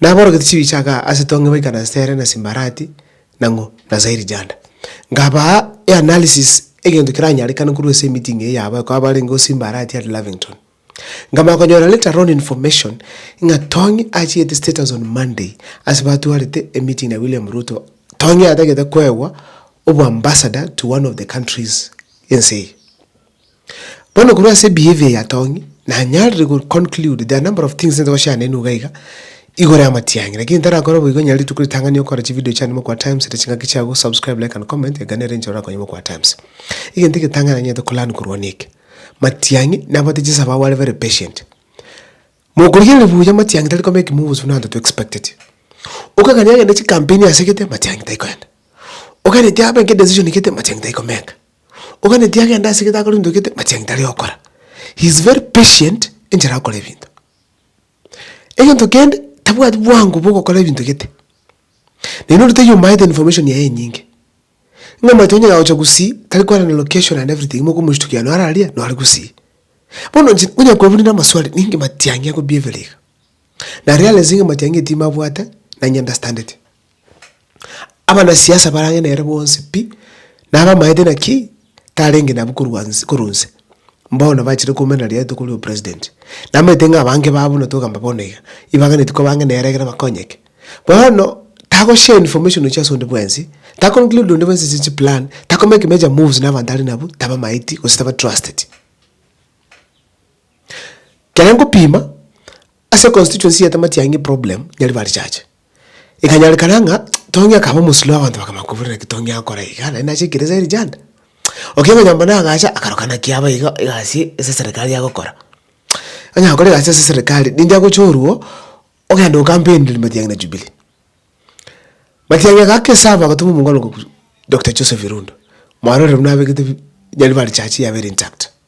Naborogete chibichaga ase etonge baika na Sere na Simbarati na ng'o? Na Zairijada. Nkabaa eanalysis egento keranyarekane korwa ase emeeting eye yabae ko abarenge o Simbarati and Lavington. Nkamanya konyora later on information ng'a Tong'i achiete status on Monday ase batwarete emeeting na William Ruto, Tong'i atagete koegwa oboambassador to one of the countries ense eye. Bono korwa ase ebehavior eye atong'e, nanyarire go conclude there are number of things ntoba share nainwe iga iga, igoro ya amatiang'i, lakini ntarakore boigo onye rituko ritang'ani okore chividio chiane mokwa times ere ching'aki chiago subscribe, like and comment iga nere enchera orakonye mokwa times. Egento egetang'ani nanyete ko learn korwa neke, matiang'i nabwate chisababu are very patient, mokorigereria buya matiang'i tari kobeki moves buna abanto to expected. Okogania agende chikampeni asegete matiang'i tai koenda, okagera eti abe nka edecision egete matiang'i tai komeka. oganeti agende ase egento akore egento gete machia egento aria ogokora. He is very patient enchera agokora ebinto. Egento kende, tabwati bwango bwa ogokora ebinto gete. Naende onde taiyo omaete information yaye enyinge. Ng'a omanyete onye agocha gusii, tari kwana na location and everything mokomoshtukia naro are aria, naro are gusii. Bono inche onye kwabunire amaswali, ninki matiang'e akobieberi iga? Na realize ng'a matiang'e timabwate, nanye understandete. Abanasiasa barange nere bonsi pi, na abamaete naki, tarenge nabwo korwa nse- korwa nse, bono bachire komenana riatuko ria opresident. Namanyete ng'a abange babo buna togamba bono iga, ibaganeti korwa bange nere ekero bakonyeke. Bono, tago share information chia ase onde bwensi, tako include onde bwensi ase chiplan, tako make major moves na abanto are nabwo, tabamaeti gose taba trusted. Ekero nkopima, ase constituency ya Tamatiang'i problem, Nyaribari church. Ekanyarekana ng'a Tongi akaba omosuri bw'abanto bakamanya koburera eki Tongi agokora iga, naende nache ekeresa eria Janda. Okigera ng'a nyomba nagacha akaroka naki aba iga egasi ase eserekari agokora. Onye agokora egasi ase eserekari, ninki agocha orwo, ogenda okampeniri matiang'i na Jubilee. Matiang'i aka ake esabu agatoma omong'ina okokusu Doctor Joseph Irundu, mwarorire buna abegete bi nyaribari church yabeire intact.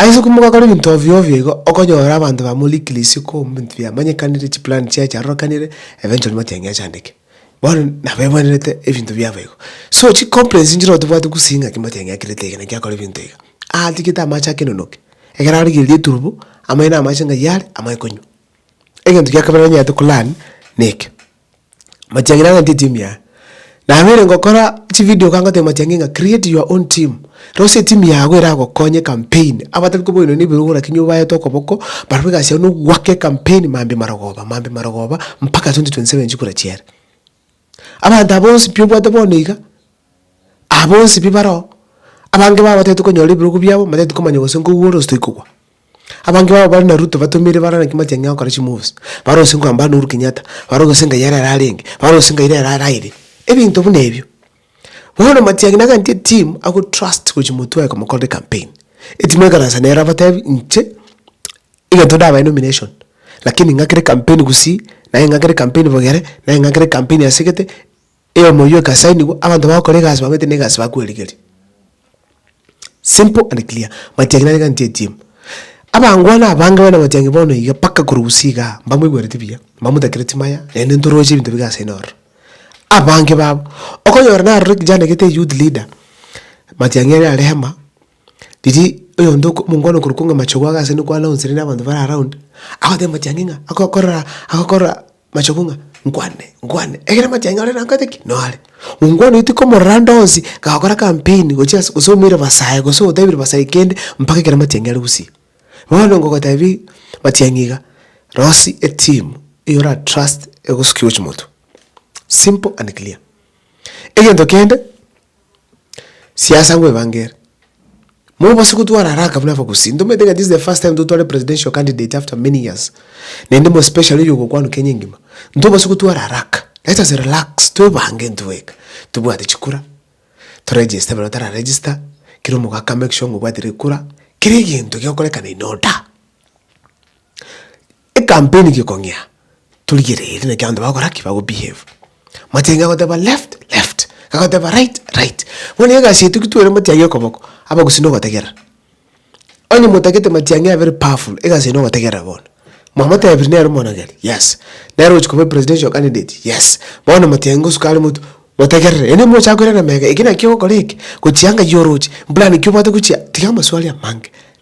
Aise komogakora ebinto ovio ovio igo, okonyora abanto bamorikire isiko mobinto biamanyekanire, chiplan chiaye chiarorokanire, eventually matiga ng'a achandeke. Bono nabo ebwenerete ebinto biabo igo. So chicomplains nchire igo tobwati gusii ng'aki matiga ng'a ekirete eke naki akora ebinto iga. Atigete amache ake enonoke, ekero arigereria eturubo, amaino amache ng'ai are, amanye konywa. Egento giakabere nonyarete kolearn, nekio. Matiang'i nang'antie etimu yaye. Nabeire ngokora chividio iga ngotebia Matiang'i ng'a create your own team, rosia etimu yago eragokonye campaign. Abatabi koba oino nebirogo lakini obaete okoboko, barabwo egasi yao nogoaka ecampaign mambia marogoba, mambia marogoba mpaka 2027 chikura chiere. Abanto aba bonsi pi obwate bono iga. Aba bonsi pi baroo, abange babo batagete konyora ebirogo biabo, mbatagete komanya gose nko owuore gose toigwa kwa. Abange babo bare na Ruto batomire bare naki matiang'i agokora chimoves, bare gose nko ambare na Uhuru Kenyatta, bare gose ngai are ararenge, bare gose ngai rero are aire. Ebinto buna ebio. Bono matiang'i nagantie team ago trust gochi motwe aye komokorera campaign. Eteam ekaransa nere abatebi inche egento ndabae nomination, lakini ng'akere campaign gusii, naye ng'akere campaign bogere, naye ng'akere campaign asegete, Eyomoyio egasai nigo abanto bagokora egasi bamanyete na egasi bakwerigeria. Simple and clear. Matiang'i nare ng'a ntiatie. Abangwana abange baina Matiang'i bono iga mpaka korwa Gusii igaa, mbamwegwereti buya, mbamotakire chimaya, naende ntoroche ebinto bige aseno ororo. Abange babo, okonyora narorire kijana egete youth leader, Matiang'i are rehema. Riria oyonde oko omongwana okorokwa ng'a machogu ake ase nokwa announcerete na abanto bare around, agoteba amatiang'i ng'a agokorora agokorora machogu ng'a nkwane nkwane egere amatiang'i ore nakoete ki? Noare. Omongwana oyo tikomorora ande onsi gakora campaign gochia ase gose omoire basae gose otebire basae kende mpaka ekero amatiang'i are gusii. Bono ngogotebi matiang'i iga, rosie eteam eyio ora trust egosukigo chimoto. Simple and clear. Egento kende. Siasa ngwebangere. Mobose gotwara haraka buna abagusii. Ntomanyete ng'a this is the first time totware presidential candidate after many years. Naende mo especially oyo ogokwanwa Kenya engima. Ntobose gotwara haraka. Let us relax, twebange intwe eweka. Tobwate chikura, to register baria batara register, kera omoka aka make sure ng'a obwatire ekura, kera egento gegokorekana in order. Ekampeni gekong'ea torigere ere naki abanto bagokora ki bago behave. Machenge agoteba left left agoteba right right bono nigo egasi yaito ki twere matiang'i okoboko abagusii na ogotegerera. Onye motagete matiang'i aye very powerful egasi yaino ogotegerera bono. Mwamotebiri nere omonogeri yes nere ogochia koba presidential candidate yes bono matiang'i ngosuka are motwe motegerere yaani mochaka koirana mega eke naki ogokora eke gochia ngaki oroche mpulani ki obwate gochia tiga amaswali amange.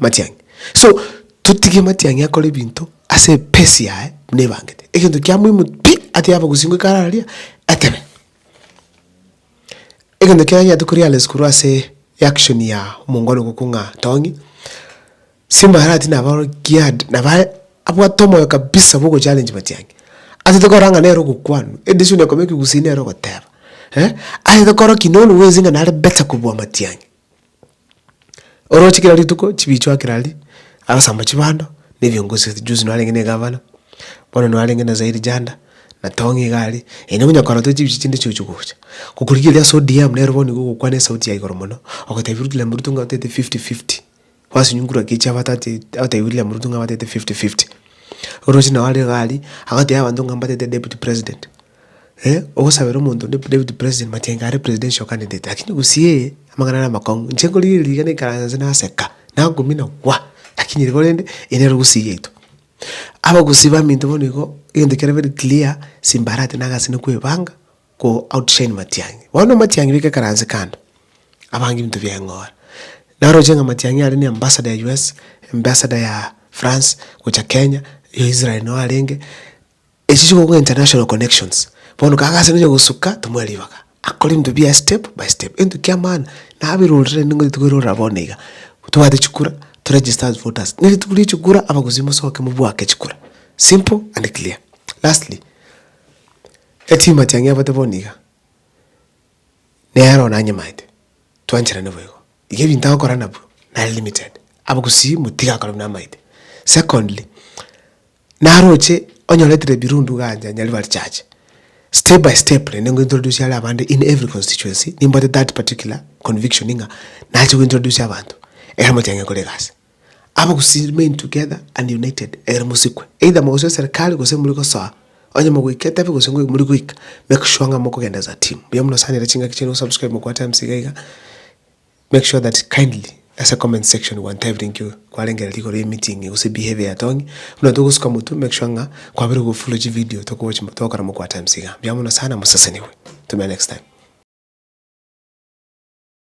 Matiang'i. So, totige matiang'i akore ebinto ase epace yaye buna ebangete. Egento kia muhimu pi, atiga abagusii ekero araria, etebe. Egento kia tanyarete ko realize korwa ase reaction ya omongwana ogo ko ng'a tong'i, simba arati nabo aro geared, nabo are abwate omoyo kabisa bwa ogochallenge matiang'i. Atete korora ng'a nere ogokwanwa, e decision ekobeka ekegusii nere ogoteba. Eh, atete korora ki nonya bwensi ng'a nare better kobua matiang'i. Oroche kera rituko chibicho akera aria, agasamba chibando, na ebiongozi ase juzi narenge na egavana, bono narenge na zaidi janda, na tong'o iga aria, eye nigo onyakorora tari chibicho chinde chiochia gocha. Gokorigereria ase odm nere bono nigo ogokwana esauti ya igoro mono, ogotebi William Ruto ng'a otete fifty fifty. Gwasinyungurwa ki chiabatati abatebia William Ruto ng'a abatete fifty fifty. Oroche nao are iga aria agatebia abanto ng'a mbatete deputy president. Eh, ogosabera omonto onde deputy president mati aye are presidential candidate lakini gosiee amang'ana are amakong'u. Inche nkorigia eri rigena ikaransa inse naseka, nakumina gwa, lakini riria korende eri nere gusii yaito. Abagusii baminto bono igo egento kiarenge very clear, simbarati na agasene kwebanga, Go outshine Matiang'i. Bono Matiang'i beka ekeranse kando, abange ebinto bia eng'ora. Naroche ng'a Matiang'i are ne ambassador ya US, ambassador ya France gocha Kenya, ya Israel noo arenge, echi chiko korwa international connections. Bono kago ase nonya gosuka tomoe ribaga, akore ebinto biaye step by step. Egento kia maana, naberorire naende ngototete koirorera bono iga, tobwate chikura, to register as voters. Ne rituko ria chikura, abagusii mosoke mobwake chikura. Simple and clear. Lastly, Echinyuma chiang'ebete bono iga, nero nanyemaete, twancherane boigo. Iga ebinto agokora nabio nare limited, abwo gusii motiga akore buna amaete. Secondly, naroche onyoretire ebirundu igaa nche nyari bare church, step by step rende nko introduce are abande in every constituency, nimbwate that particular conviction ng'a nache go introduce abanto, ekero mochia ng'ekore egasi. Aba gose remain together and united egere mosikwe, either mogochia eserikari gose muri gosoa, onye mogoika etabi gose ngoika muri goika, make sure ng'a mokogenda as a team. Mbuya mono sana ere chingaki chiaino osubscribe mokwa times iga iga, make sure that kindly ase comment section gwancha everything you kwarengereria igoro ye meeting gose behavior ya Tong'i, buna togosuka motwe make sure ng'a kwabeire gofollow chividio tokowochi togokora mokwa times iga. Mbuya mono sana mosesenigwe. Tumenya next time.